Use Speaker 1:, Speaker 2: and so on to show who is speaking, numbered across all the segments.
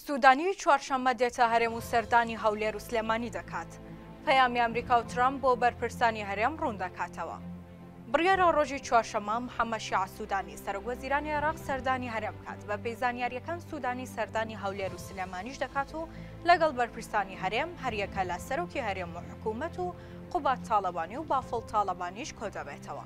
Speaker 1: سوودانی چوارشەممە دێتە هەرێم و سەردانی هەولێر و سلێمانی دەکات. پەیامی ئەمریکا و ترەمپ بۆ بەرپرسانی هەرێم ڕوون دەکاتەوە. بڕیارە ڕۆژی چوارشەممە محەممەد شیاع سوودانی، سەرۆکوەزیرانی عێراق سەردانی هەرێم بکات، بەپێی زانیارییەکان سوودانی سەردانی هەولێر و سلێمانیش دەکات و لەگەڵ بەرپرسانی هەرێم، هەریەکە لە سەرۆکی هەرێم و حکوومەت و قوباد تاڵەبانی و بافڵ تاڵەبانیش کۆدەبێتەوە.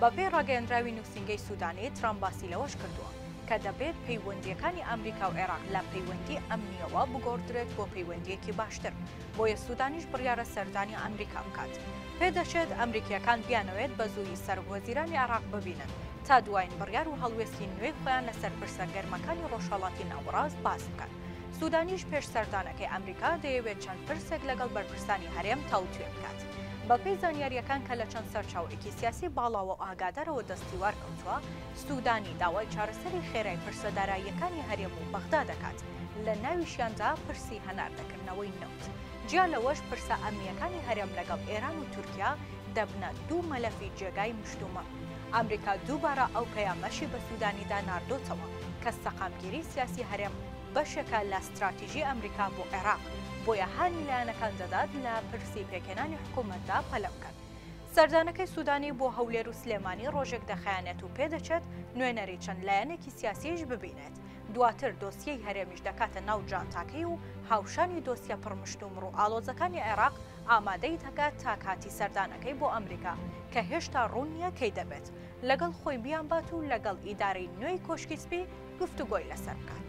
Speaker 1: بەپێی ڕاگەیەندراوی نووسینگەی سوودانی، ترامپ باسی لەوەش کردووە، کە دەبێت پەیوەندییەکانی ئەمریکا و عێراق لە پەیوەندی ئەمنییەوە بگۆڕدرێت بۆ پەیوەندییەکی باشتر، بۆیە سوودانیش بڕیارە سەردانی ئەمریکا بکات. پێدەچێت ئەمریکییەکان بیانەوێت بە زوویی سەرۆکوەزیرانی عێراق ببینن، تا دوایین بڕیار و هەڵوێستی نوێی خۆیان لەسەر پرسە گەرمەکانی ڕۆژهەڵاتی ناوەڕاست باس بکەن. سودانیش پێش سەردانەکەی ئەمریکا دەیەوێت چەند پرسێک لەگەڵ بەرپرسانی هەرێم تاوتوێ بکات. بەپێی زانیارییەکان کە لە چەند سەرچاوەیەکی سیاسی باڵاوە و ئاگادارەوە دەستیوار کەوتووە، سودانی داوای چارەسەری خێرای پرسە داراییەکانی هەرێم و بەغدا دەکات، لە ناویشیاندا پرسی هەناردەکردنەوەی نەوت. جیا لەوەش پرسە ئەمنییەکانی هەرێم لەگەڵ ئێران و تورکیا دەبنە دوو مەلەفی جێگای مشتومڕ. ئامریکا دووبارە ئەو پەیامەشی بە سوودانیدا ناردۆتەوە کە سەقامگیری سیاسی هەرێم بەشێکە لە ستراتیژی ئامریکا بۆ عێراق، بۆیە هانی لایەنەکان دەدات لە پرسی پێکهێنانی حکوومەتدا پەلە بکەن. سەردانەکەی سوودانی بۆ هەولێر و سلێمانی ڕۆژێک دەخایەنێت و پێدەچێت نوێنەری چەند لایەنێکی سیاسییش ببینێت، دواتر دۆسیەی هەرێمیش دەکاتە ناو جانتاکەی و هاوشانی دۆسیە پڕمشتومڕ و ئاڵۆزەکانی عێراق، ئامادەی دەکات تا کاتی سەردانەکەی بۆ ئەمریکا، کە هێشتا ڕوون نییە کەی دەبێت، لەگەڵ خۆی بیانبات و لەگەڵ ئیدارەی نوێی کۆشکی سپی گفتوگۆی لەسەر بکات.